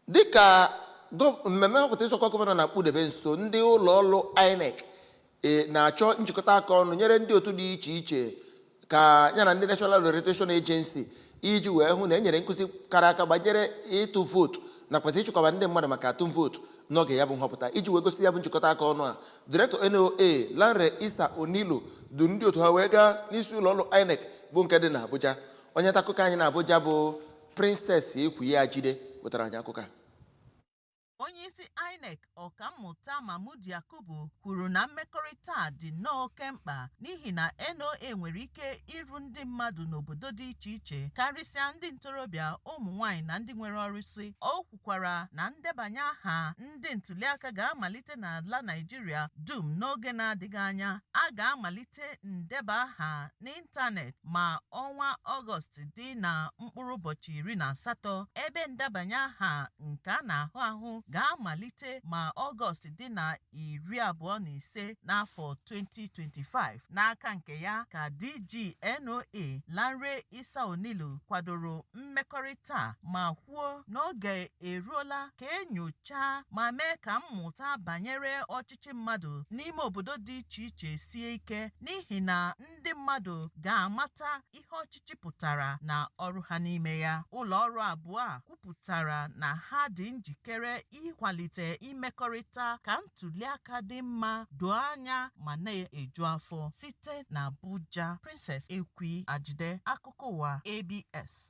dịka gọ- mmemme nhọpụta ịzọkwa gọvanọ na-akpụdebe nso ndị ụlọ ọrụ inec e, na-achọ njikọta aka ọnụ nyere ndị otu dị iche iche ka ya na ndị national orientation agency iji wee hụ na e nyere nkụzi kara aka banyere ịtụ vootu nakwazi ịchịkọba ndị mmadụ maka atụm vootu n'oge ya bụ nhọpụta iji wee gosi ya bụ njikọta aka ọnụ a direktọ noa lanre issa onilu du ndị otu ha wee gaa n'isi ụlọ ọrụ inec bụ nke dị n'abuja onye nta akụkọ anyị na Abuja bụ Princess Ekwi Ajide wetara anyị akụkọ a onyeisi INEC ọkammụta Mahmood Yakubu kwuru na mmekọrịta a dị nnọọ oke mkpa n'ihi na NOA nwere ike iru ndị mmadụ n'obodo dị iche iche karịsịa ndị ntorobịa ụmụ nwanyị na ndị nwere ọrụsị kwukwara na ndebanye aha ndị ntuliaka ga-amalite n'ala Naịjirịa dum n'oge na-adịghị anya a ga-amalite ndeba aha n'ịntanetị ma ọnwa Ọgọst dị na mkpụrụ ụbọchị iri na asatọ ebe ndebanye aha nke a na-ahụ ahụ ga-amalite ma Ọgọst dị na iri abụọ na ise n'afọ 2025 n'aka nke ya ka DG NOA Lanre Issa Onilu kwadoro mmekọrịta a ma kwuo na oge eruola ka e nyochaa ma mee ka mmụta banyere ọchịchị mmadụ n'ime obodo dị iche iche sie ike n'ihi na ndị mmadụ ga-amata ihe ọchịchị pụtara na ọrụ ha n'ime ya ụlọ ọrụ abụọ a kwupụtara na ha dị njikere ịkwalite imekọrịta ka ntuliaka dị mma doo anya ma na-eju afọ site na Abuja Princess Ekwi Ajide akụkọ ụwa ABS